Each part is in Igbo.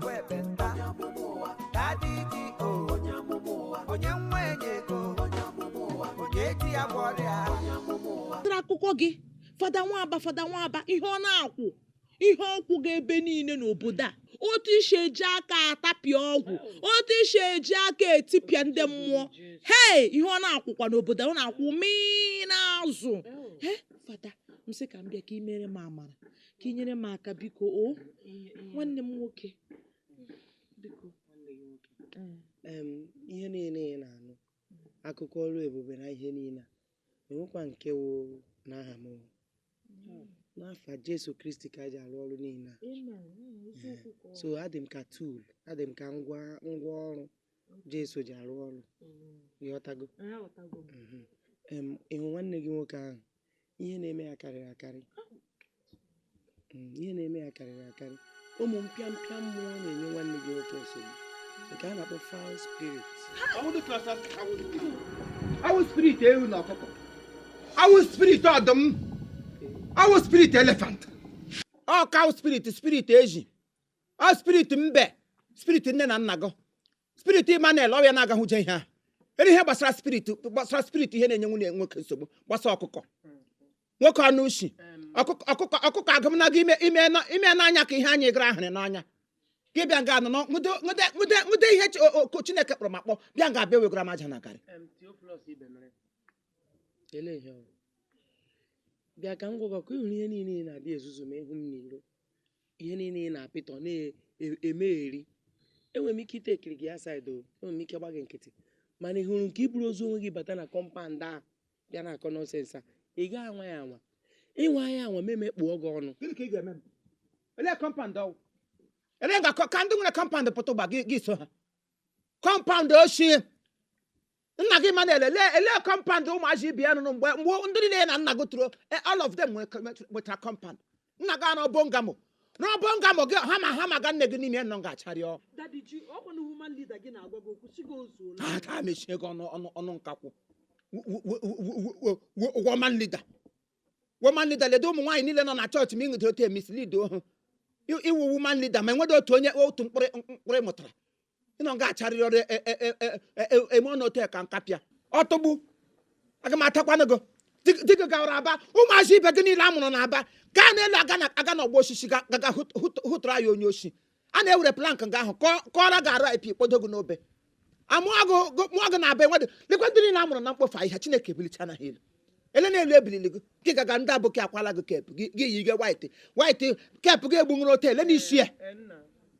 bụ ekpenta dadi ji o onye nwa enye ego onye eji ya bụ ọrịa tara akụkọ gị fada nwaba fada nwaba ihe ọ na-akwụ ihe ọ kwụga ebe niile n'obodo a otu i si eji aka atapịa ọgwụ otu i si eji aka etipịa ndị mmụọ hei ihe ọ na-akwụkwa n'obodo a, ọ na-akwụ mmiri n'azụ he fada m sị ka m bịa ka ị mere m amara ka ị nyere m aka biko o nwanne m nwoke biko ihe niile ị na-anụ akụkọ ọrụ ebube na ihe niile enwekwa nke wụ n'aha m n'afa Jesu Kristi ka e ji arụ ọrụ niile a so adị m ka tool adị m ka ngwa ngwa ọrụ Jesu ji arụ ọrụ ị ghọtago mhm. ị hụ nwanne gị nwoke ahụ ihe na-eme ya karịrị akarị mm, ihe na-eme ya karịrị akarị ụmụ mpịa mpịa mmụọ na-enye nwanne gị nwoke nsogbu nke a na-akpọ foul spirit awụ spirit ewu na ọkụkọ awụ spirit ọdụm awụ spirit elephant ọ cow spirit spirit ezi ọ spirit mbe spirit nne na nna gị spirit Emmanuel ọrịa na-agahụ je ihe a ere ihe gbasara spirit gbasara spirit ihe na-enye nwanne nwoke nsogbu gbasa ọkụkọ nwoke ọnụ ushi ọkụkọ ọkụkọ ọkụkọ agụmnaga ime ime na- ime n'anya ka ihe anyị gara ahụrụ n'anya gị bịa nga a nọ nọ- nwude nwude nwude nwude ihe chi- o- o- Chineke kpọrọ m akpọ bịa nga a bịa wegara m aja na garị Ele ihe ọ bụ. bịa ka m gwa gị ka ị hụrụ ihe niile ị na-adị ezuzu ma ị hụ m n'iro ihe niile ị na-apịtọ na-emegheri enwere m ike ite ekiri gị aside o enwere m ike gba gị nkịtị mana ị hụrụ nke i buru ozu onwe gị bata na compound a bịa na-akọ nonsense a ị gaghị anwa ya anwa ị nwa ya anwa m emekpuo gị ọnụ gịnị ka ị ga-eme m ele compound ọ wụ ele ga ka ndị nwere compound pụta ugbu a gị gị so ha compound ochie nna gị ma na-ele ele ele compound ụmụazị ibe ya rụrụ mgbe mgbe ndị niile ya na nna gị toro eh, all of them nwere- nwetara- nwetara compound nna gị anọ bungalow na bungalow gị ha ma ha ma ga nne gị n'ime nọ ga-acharịọ dadi ji ọkwa na woman leader gị na-agwa gị okwu sị gị o zuola ha taa mechie gị ọnụ ọnụ ọnụ nkakwụ woman leader woman leader ledo ụmụ nwaanyị niile nọ na chọọchị ma ịṅụdị otu emislead ha ị wụ woman leader ma enwedo otu onye otu mkpụrụ mkpụrụ ị mụtara ị nọ nga a acharịrị ọnụ e, e, e, eme ọnụ otu ka nkapịa ọtụgbu aga m atakwanụ gị dịka gawara Aba ụmụazị ibe gị niile a mụrụ na Aba gaa n'elu aga n'ọgbọ osisi gaga hụtụrụ ya onye oshi a na-ewere plank nga ahụ kọọra gị arụ ip kpọdo gị n'obe amụọ gị na Aba enwedị lekwa ndị niile a mụrụ na mkpofu ahịhịa chineke ebulichala ha elu ele na-elu ebilili gị gị gaga ndị aboki akwala gị cap gị yi gị white white cap gị egbunwere otele n'isi ya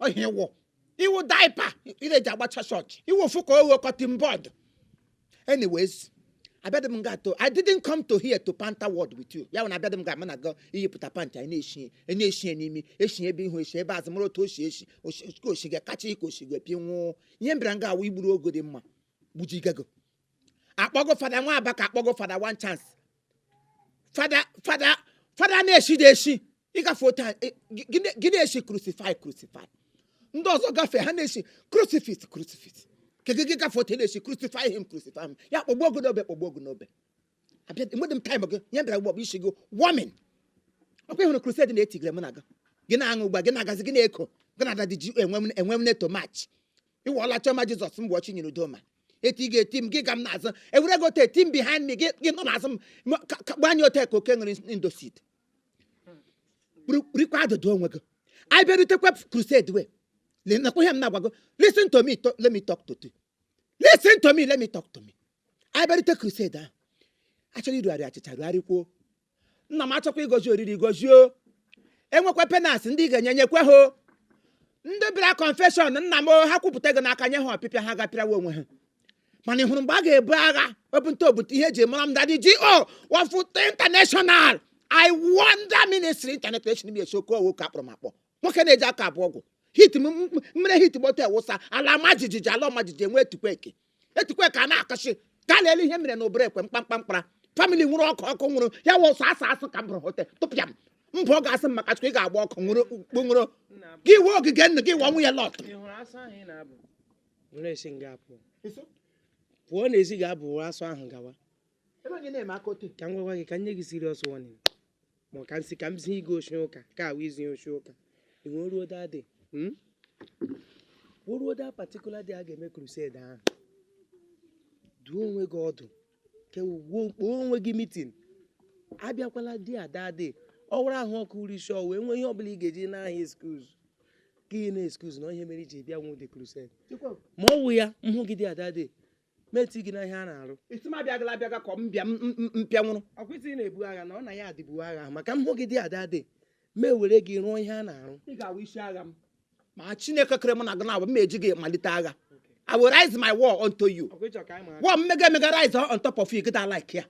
ọ ihe ị wụ ị wụ diaper e ji agbacha chọọchị ị wụ ofu ka oghe cutting board anyways abịadị m nga to i didn't come to here to panta word with you ya bụ na abịadị m nga mụ na gị iyipụta pant anyị na-eshi onye eshi n'imi eshi ebe ihu eshi ebe azụ mụrụ otu o shi eshi oshi- ka oshi ga kacha ike oshi ga pi nwụọ ihe m bịara nga a wụ igburu ogo dị mma gbujigago akpọgo fada nwa aba ka akpọgo fada one chance fada fada fada na-eshi dị eshi ị gafee otu a- ị- gị- gị na- gị na-eshi crucify crucify ndị ọzọ gafee ha na-eshi crucifix crucifix kedu gị gafe otu ị na-eshi crucify him crucify him ya kpọgbuo gị n'obe kpọgbuo gị n'obe abịa enwedị m time gị ya bịara gbọbụ isi gị woman ọkwa ị hụrụ crusade na-etigre mụ na gị gị na-aṅụ ugbu a gị na-agazi gị na-eko gị na-ada dị ji enwe m enwe m neto mach ị wụọla chioma jesus m bụ chinyere udoma eti ị ga-eti m gị ga m n'azụ ewere gị ote eti m behind me gị gị nọ n'azụ m ma- ka- ka- gbanye ote ka oke ṅụrụ indocid rikwa adụdụ onwe gị anyị bịarutekwa crusade wee nụkwa ihe m na-agwa gị listen to me to- let me talk to you listen to me let me talk to me anyị bịarute crusade ahụ achọrọ irugharị achịcha rugharịkwuo nna m achọkwa ịgọzi oriri gọzie o. enwekwa penance ndị ị ga-enye nyekwe ha o. ndị bịara confession nna m o, ha kwupụta gị n'aka nye ha ọpịpịa ha gaa pịrawa onwe ha mana ị hụrụ mgbe a ga-ebu agha obute obute ihe eji mara m daddy g.o. wafụta international i wonder ministry international bi esoko owo ka akpọrọ m akpọ nwoke na-eji aka abụọ egwu hit m- m- mmiri hit gbọta ewụsa ala maa jijiji ala ọma jijiji enwe etukweke etikwe ka a na-akọchi ka a na-ele ihe mere na obere ekwe mkpamkpamkpara family nwuru ọkụ ọkụ nwuru ya wụ ọ sọ asụ asụ ka m bụrụ hote tụpịa m mbụ ọ ga-asị m maka chukwu ị ga-agba ọkụ nwuru ọkụ nwuru gị wee ogige nnu gị wụọ nwunye lọt ị hụrụ asụ ahụ ị na-abụ were esi nga apụ pụọ n'ezi ga-abụ asụ ahụ gawa ka m gwagwa gị ka m nye gị serious warning ma ọ ka m sị ka m zie gị oshi ụka ka a wụ izi oshi ụka e wee ruo that day hmm? o ruo that particular day a ga-eme crusade ahụ dụọ onwe gị ọdụ kewuo kpọọ onwe gị meeting abịakwala there that day ọ wụrụ ahụ ọkụ or isi ọwụwa nwee ihe ọbụla ị ga-eji naa ha excuse ka ị na-excuse na ihe mere i ji bịanwu the crusade ma ọ wụ ya m hụ gị there that day m etie gị na ihe a na-arụ asị m abịagala abịaga ka m bịa m- m- m- mpịa nwụrụ ọkwa ị sị ị na-ebu agha na ọ na ya adịbu agha ahụ maka m hụ gị there that day m ewere gị rụọ ihe a na-arụ ị ga-awụ isi agha m ma chineke kere mụ na gị na-agba m eji gị malite agha i will rise my war unto you ọkwa ị chọ ka anyị maa aka war mmega emega rise on top of you gị da like ya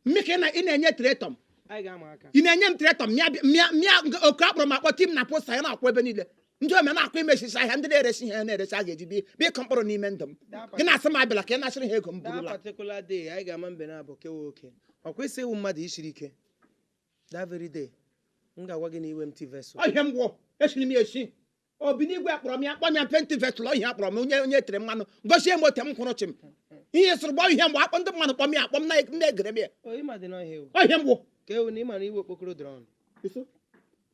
mme ka ị na- ị na-enye tretọm anyị ga-ama aka ị na-enye m tretọm mịa mịa mịa oke akpọrọ m akpọ tie m na poster ya na-akwụ ebe niile ndị ome na-akwa imechisi ahịa ndị na-eresi ihe na-eresi a ga-eji bi- bịa ịkụ mkpụrụ n'ime ndụ m gị na-asị m abịala ka ị na-achịrị ha ego m that burula particular day anyị ga-ama mbe naabọ ke wụ oke ọ kwa ị sị ị wụ mmadụ i siri ike that very day m ga-agwa gị na ị wụ empty vessel Ọ ihe m gwụ esiri m ya esi obi n'igwe akpọrọ m ya akpọ m ya empty vessel ihe akpọrọ m onye onye tere mmanụ gosie m ote m kwụrụ chịm ihe sịrị gbọ ihe mgbe akpọ ndị mmadụ kpọ m ya akpọ m na- na-egere m ya oyi ma dị n'ọhịa ewu ọ ihe m gwụ ka ewu na ị mara ị wụ okpokoro drum